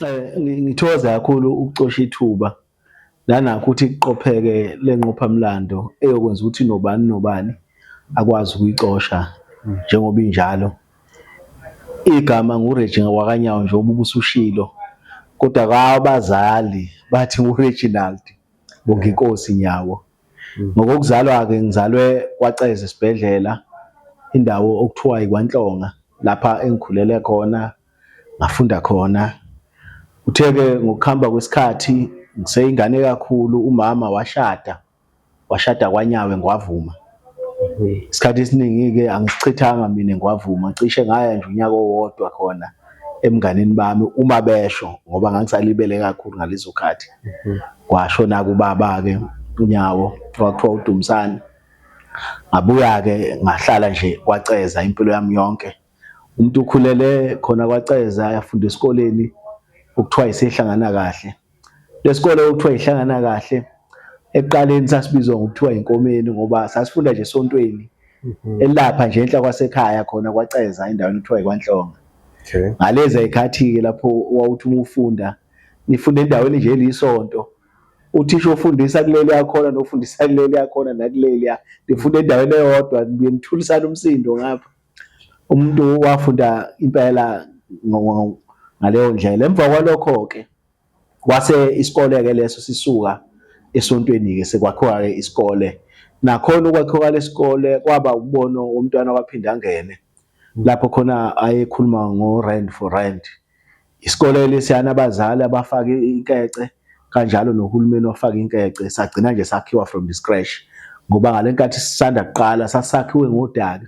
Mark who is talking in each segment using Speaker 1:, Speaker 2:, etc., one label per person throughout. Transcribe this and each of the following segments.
Speaker 1: Eh, ngithokoza kakhulu ukucosha ithuba nanakho ukuthi kuqopheke le nqophamlando eyokwenza ukuthi nobani nobani akwazi ukuyicosha njengoba injalo igama nguRegi wakanyawo nje ubuke usushilo kodwa kwabazali bathi nguReginald Bonginkosi Nyawo mm. ngokokuzalwa-ke ngizalwe kwaceza esibhedlela indawo okuthiwa ikwantlonga lapha engikhulele khona ngafunda khona uthe-ke ngokuhamba kwesikhathi ngiseyingane kakhulu umama washada washada kwanyawe ngwavuma isikhathi esiningi-ke angisichithanga mina ngwavuma cishe ngaya nje unyaka owodwa khona emnganini bami uma besho ngoba ngangisalibele kakhulu ngalezo khathi kwashona kubaba-ke unyawo kwakuthiwa udumisane ngabuya-ke ngahlala nje kwaceza impilo yami yonke Umuntu ukhulele khona kwaCeza yafunda esikoleni okuthiwa isehlangana kahle. Lesikole okuthiwa ihlangana kahle ekuqaleni sasibizwa ngokuthiwa inkomeni ngoba sasifunda nje esontweni mhm. elapha nje enhla kwasekhaya khona kwaCeza endaweni okuthiwa ikwaNhlonga. Okay. Ngalezi
Speaker 2: ayikhathi-ke
Speaker 1: lapho wawuthi uma ufunda nifunda endaweni nje elisonto uthisha ofundisa kuleli yakhona nofundisa kuleli yakhona nakuleli ya nifunda endaweni eyodwa nithulisana umsindo ngapha umuntu wafunda impela ngaleyo ndlela emva kwalokho ke wase isikole ke leso sisuka esontweni ke sekwakhiwa ke isikole nakhona ukwakhiwa lesikole kwaba umbono womntwana waphinde angene lapho khona ayekhuluma ngo rand for rand Isikole lesiyana abazali abafake inkece kanjalo nohulumeni ofaka inkece sagcina nje sakhiwa from the scratch ngoba ngalenkathi sisanda kuqala sasakhiwe ngodaka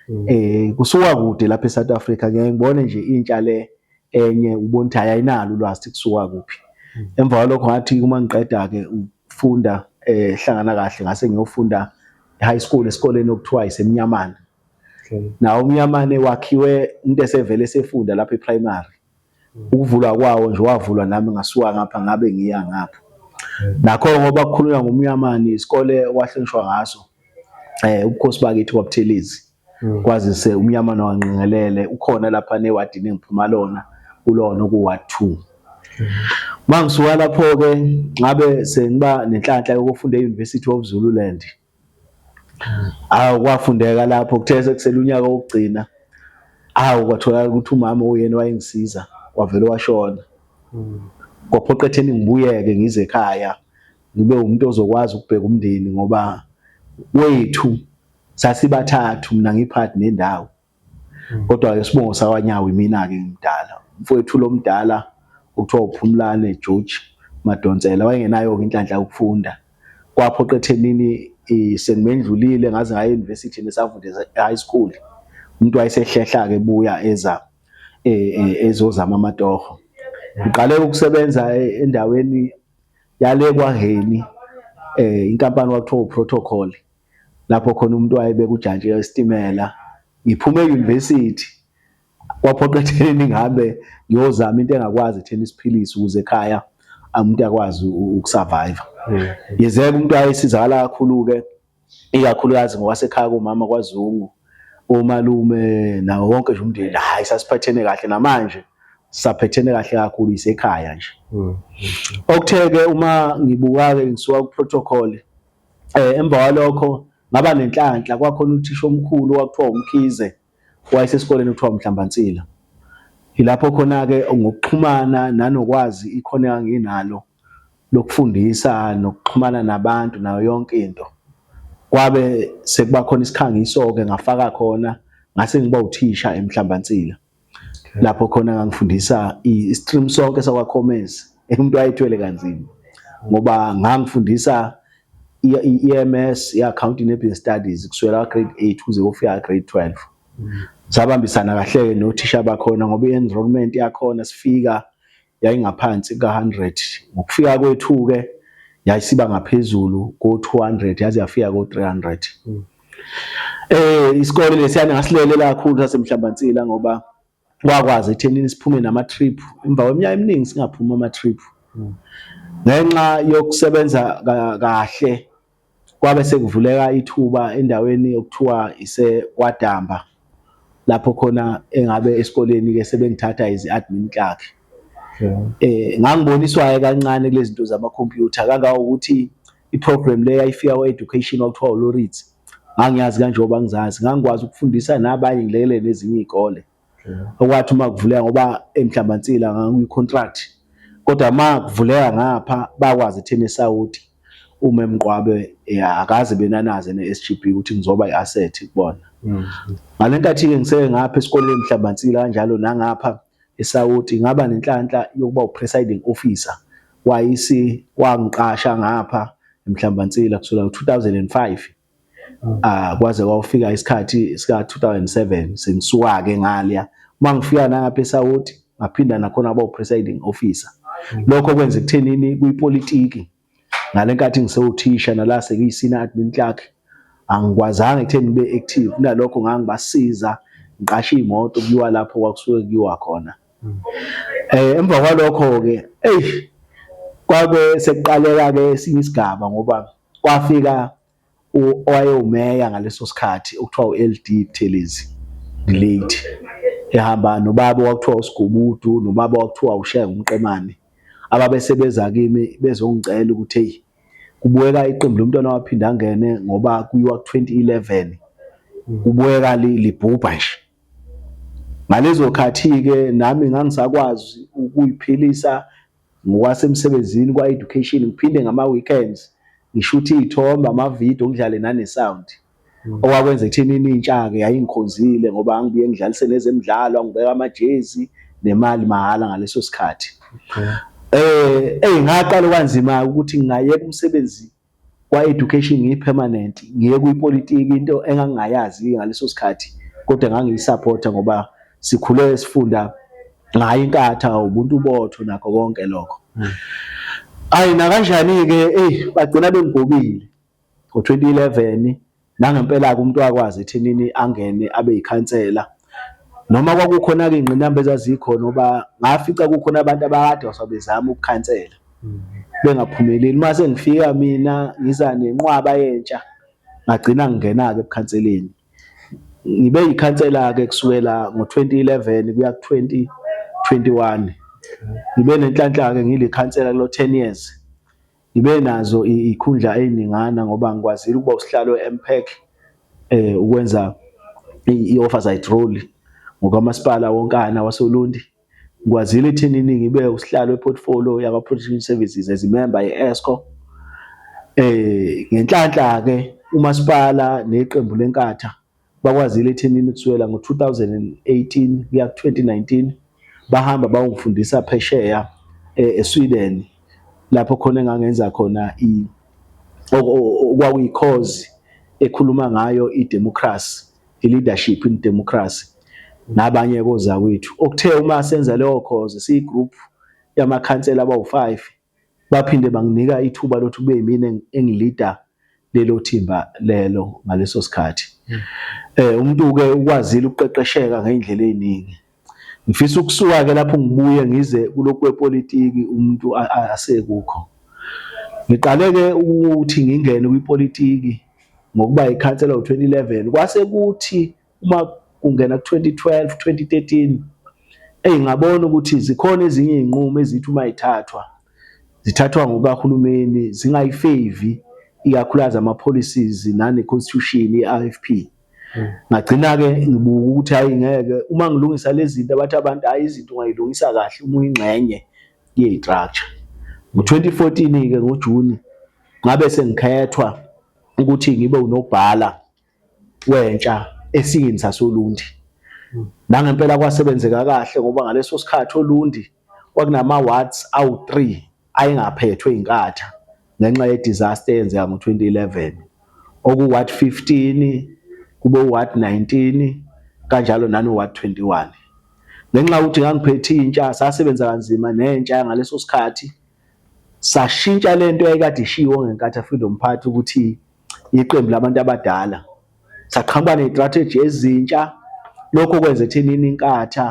Speaker 1: mm. eh kusuka kude lapha eSouth Africa ngeke ngibone nje intsha le enye ubona ukuthi ayinalo ulwazi kusuka kuphi mm. emva kwalokho ngathi uma ngiqeda ke ufunda eh hlangana kahle ngase ngiyofunda high school esikoleni okuthiwa isemnyamana nawo umnyamane wakhiwe umuntu esevele esefunda lapha eprimary ukuvulwa kwawo nje wavulwa nami ngasuka ngapha ngabe ngiya ngapha nakho ngoba kukhulunywa ngomnyamane isikole wahlonishwa ngaso eh ubukhosi bakithi kwabuthelezi hmm. kwazise umnyamane wanqingelele ukhona lapha newadini engiphuma lona kulona okuwa 2 hmm. mangisuka lapho ke ngabe sengiba nenhlanhla yokufunda e-University of Zululand awu kwafundeka lapho kuthe sekusele unyaka wokugcina awu kwatholakala ukuthi umama uyena wayengisiza wavele washona kwaphoqa etheni ngibuyeke ngize ekhaya ngibe umuntu ozokwazi ukubheka umndeni ngoba wethu sasibathathu mina ngiphathi nendawo kodwa-ke sibongo sakwanyawo imina-ke ngimdala mfowethu lo mdala okuthiwa uphumlane george madonsela wayengenayo-ke inhlanhla yokufunda kwaphoqa ethenini sengimendlulile ngaze ngaya e-university nesavunde high school umuntu wayesehlehla-ke ebuya eza e, e, ezozama amatoho uqale ukusebenza e, endaweni yale kwaheni um inkampani kwakuthiwa uprotocol lapho khona umuntu wayebeka ujantshi esitimela ngiphume e-university kwaphoqa ekuthenini ngihambe ngiyozama into engakwazi ekutheni siphilise ukuze ekhaya umuntu akwazi ukusurvive hmm. yezeka umuntu ayesizakala kakhulu-ke ikakhulukazi ngokwasekhaya komama kwazungu omalume nawo wonke nje umndeni hhayi sasiphathene kahle namanje saphethene kahle kakhulu isekhaya nje hmm. okuthe-ke uma ngibuka-ke ngisuka ku-protocol eh emva kwalokho ngaba nenhlanhla kwakhona uthisha omkhulu wakuthiwa umkhize wayesesikoleni okuthiwa umhlambansila yilapho khona ke ngokuxhumana nanokwazi ikhona enginalo lokufundisa nokuxhumana nabantu nayo yonke into kwabe sekuba khona isikhangiso ke ngafaka khona ngase ngiba uthisha emhlambansila lapho khona ngangifundisa i-stream sonke sakwaCommerce umuntu wayethwele kanzima ngoba ngangifundisa i-EMS i-accounting nebusiness studies kusukela grade 8 kuze kufika grade 12 sabambisana kahle-ke nothisha bakhona ngoba i-enrollment yakhona sifika yayingaphansi kuka-100. Ngokufika kwethu-ke yayisiba ngaphezulu ko-200 yaze yafika ko-300. Mm. Eh isikole lesiyana ngasilele kakhulu sasemhlambansila ngoba kwakwazi ethenini siphume nama-trip emva kweminyaka eminingi singaphumi ama-trip. Mm. Ngenxa yokusebenza kahle Kwabe sekuvuleka ithuba endaweni okuthiwa iseKwaDamba lapho khona engabe esikoleni-ke sebengithatha as i-admin clerk. Um ngangiboniswa-ke kancane kule zinto zamakhompyutha kangangokuthi i-program le yayifika kwe-education kwakuthiwa uLoritz, ngangiyazi kanjengoba ngizazi. Ngangikwazi ukufundisa nabanye ngilekelele nezinye iy'kole. okwathi uma kuvuleka ngoba emhlambantsila ngangikwicontract kodwa uma kuvuleka ngapha bakwazi etheni esawuti uma emgqwabe eh, akaze benanaze ne-SGB ukuthi ngizoba i-asset kubona mm. ngale nkathi-ke ngiseke ngapha esikoleni emhlambantsila kanjalo nangapha esawuti ngaba nenhlanhla yokuba u-presiding officer wayisi wangiqasha ngapha emhlambantsila kusukela ngo-2005 ah kwaze kwafika isikhathi sika 2007 sengisuka ke ngalya mangifika nangapha eSouth ngaphinda nakhona aba presiding officer lokho kwenza ekuthenini kuyipolitiki ngalenkathi ngisewuthisha nala sekuyisina admin clerk angikwazanga ekutheni ngibe active kunalokho ngangibasiza ngiqashe imoto kuyiwa lapho kwakusuke kuyiwa khona eh emva kwalokho ke ey kwabe sekuqaleka ke esinye isigaba ngoba Kwafika owayewumeya ngaleso sikhathi okuthiwa u-LD Buthelezi Delate ehamba nobaba owakuthiwa uSigubudu nobaba owakuthiwa uShenge uMqemane ababesebeza kimi bezongicela ukuthi hey kubukeka iqembu lomntwana waphinda angene ngoba kuyiwa ku-2011 kubukeka libhubha nje ngalezo khathi-ke nami ngangisakwazi ukuyiphilisa ngokwasemsebenzini kwa-education ngiphinde ngama-weekends ngishuthe iy'thombe amavidiyo ngidlale nane-sound mm. okwakwenza ekuthenini intsha-ke yayingikhonzile ngoba angibuye ngidlalise nezemidlalo angibeka amajezi nemali mahhala ngaleso sikhathi um eyi ngaqala okwanzima-ke ukuthi ngingayeka umsebenzi Kwa-education ngiyi-permanent, ngiye kwipolitiki into engangingayazi ngaleso sikhathi kodwa ngangiyisapotha ngoba sikhule sifunda ngayo inkatha, ubuntu botho nakho konke lokho. Hmm. Ayi nakanjani-ke eyi bagcina bengigobile ngo-2011 Nangempela-ke umuntu wakwazi ethinini angene abe yikhansela noma kwakukhona-ke iy'ngqinamba ezazikhona ngoba ngafica kukhona abantu abakade wasabezama ukukhansela mm. bengaphumeleli. Uma sengifika mina ngiza nenqwaba yentsha ngagcina ngingena-ke ebukhanseleni. Ngibe yikhansela-ke kusukela ngo-twenty eleven kuya ku-twenty twenty one. Ngibe nenhlanhla-ke ngilikhansela kulo ten years. Ngibe nazo ikhundla eziningana ngoba ngikwazile ukuba usihlalo eMPEC eh ukwenza i-oversight role ngokamasipala wonkana wasoLundi. Ngikwazile ethenini ngibe usihlalo eportfolio yaka Protection Services as imemba ye-ESCO. Eh ngenhlanhla ke umasipala neqembu lenkatha bakwazile ethenini kusukela ngo-2018 kuya ku-2019 bahamba bayongifundisa phesheya eh, eSweden lapho khona engangenza khona i okwakuyikhozi ekhuluma ngayo idemocracy i-leadership in democracy nabanye kozakwethu okuthe uma senza leyo khozi siyigroup yamakhansela abawu-5 Baphinde banginika ithuba lokuthi kube yimina engilida lelo thimba lelo ngaleso sikhathi. Hmm. Eh umuntu-ke ukwazile ukuqeqesheka ngey'ndlela ey'ningi. Ngifisa ukusuka-ke lapho ngibuye ngize kulokhu kwepolitiki umuntu asekukho. Ngiqale-ke ukuthi ngingene kwipolitiki ngokuba yikhansela ngo-2011 kwase kuthi uma kungena ku 2012 2013 eyi ngabona ukuthi zikhona ezinye izinqumo ezithi uma ithathwa zithathwa ngokahulumeni zingayifevi ikakhulukazi ama policies nane constitution ye IFP hmm. ngagcina ke ngibuka ukuthi hayi ngeke uma ngilungisa lezi zinto abathi abantu hayi izinto ungayilungisa kahle uma uyingxenye ye structure ngo 2014 ke ngo June ngabe sengikhethwa ukuthi ngibe unobhala wentsha esiyini sasoLundi. Nangempela kwasebenzeka kahle ngoba ngaleso sikhathi oLundi kwakunama-wards awu-three ayengaphethwe iNkatha ngenxa ye-disaster eyenzeka ngo-twenty eleven, okuwu-ward fifteen, kube u-ward nineteen kanjalo nano-ward twenty one. Ngenxa yokuthi ngangiphethe intsha sasebenza kanzima nentsha yangaleso sikhathi. Sashintsha le nto yayikade ishiwo ngenkathi afika lo mphathi ukuthi iqembu labantu abadala. Saqhamuka ney'tratheji ezintsha, lokho kwenza ekuthenini iNkatha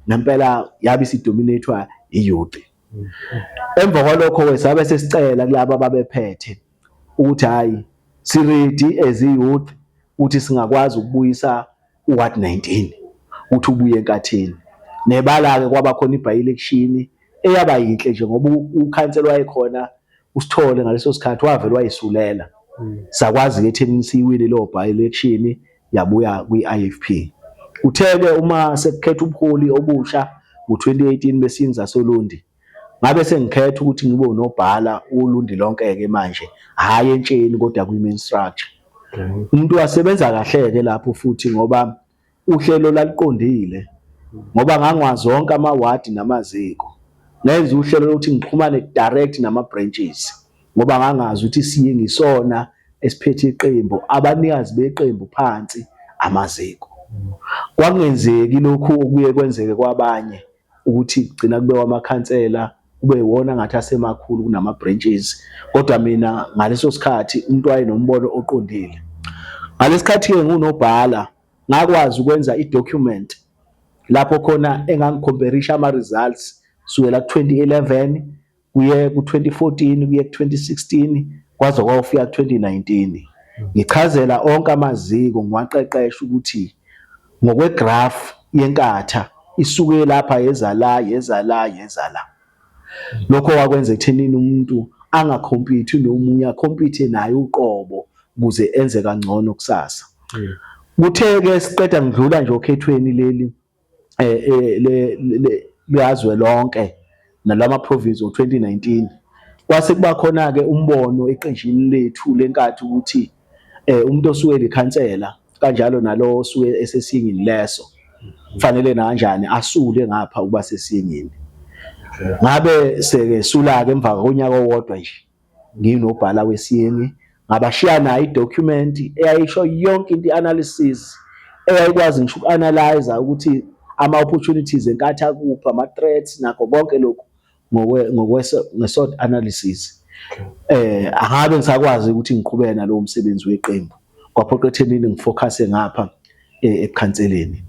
Speaker 1: ngempela yabe isidominethwa iyuti. Emva kwalokho-ke sabe sesicela kulaba ababephethe ukuthi hhayi siridi as i-youth ukuthi singakwazi ukubuyisa uward 19 ukuthi ubuye enkathini nebala-ke kwaba khona ibhayilekishini eyaba yinhle nje ngoba ukhansela wayekhona usithole ngaleso sikhathi wavele wayisulela hmm. sakwazi-ke etheni siyiwile leyo bhayilekishini yabuya kwi-ifp uthe-ke uma sekukhetha ubuholi obusha ngo-2018 besinza solundi Ngabe sengikhetha ukuthi ngibe unobhala ulundi lonke-ke manje, hhayi entsheni kodwa kwi-main structure. Umuntu wasebenza kahle-ke lapho futhi ngoba uhlelo laluqondile ngoba ngangwazi wonke amawadi namaziko. Ngenza uhlelo lokuthi ngixhumane direct nama-branches ngoba ngangazi ukuthi siye ngisona esiphethe iqembu, abanikazi beqembu phansi amaziko. Kwakungenzeki lokhu okuye kwenzeke kwabanye ukuthi kugcina kube wamakhansela kube iwona ngathi asemakhulu kunama branches kodwa mina ngaleso sikhathi umuntu wayenombono oqondile ngalesikhathi ke ngunobhala ngakwazi ukwenza i document lapho khona engangicomperisha ama results sukela 2011 kuye ku-2014 kuye ku-2016 kwaze kwawufika ku-2019 ngichazela onke amaziko ngiwaqeqesha ukuthi ngokwegraph yenkatha isuke lapha yeza la yeza la yeza la lokho wakwenza ekuthenini umuntu angakhompithe nomunye akhompithe naye uqobo ukuze enze kangcono kusasa kuthe-ke siqeda ngidlula nje okhethweni leli likazwe lonke nalama province ngo-2019 kwase kuba khona-ke umbono eqenjini lethu lenkathi ukuthi um umuntu osuke likhansela kanjalo nalo osuke esesingini leso kufanele nakanjani asule ngapha ukuba sesingini ngabe seke sula-ke emva konyaka owodwa nje nginobhala wesiyeni ngabashiya nayo i-document eyayisho yonke into i-analysis eyayikwazi ngisho uku-analyze ukuthi ama-opportunities enkathi akuphi ama-threats nakho konke lokhu nge-SWOT analysis eh angabe ngisakwazi ukuthi ngiqhubeke nalowo msebenzi weqembu kwaphoqa ethenini ngifocuse ngapha eh, ekhanseleni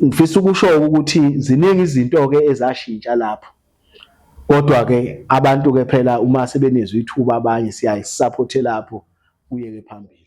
Speaker 1: ngifisa ukusho ukuthi ziningi izinto ke ezashintsha lapho Kodwa ke abantu ke phela uma sebenezwa ithuba abanye siyaye sisaphothele apho kuye ke phambili.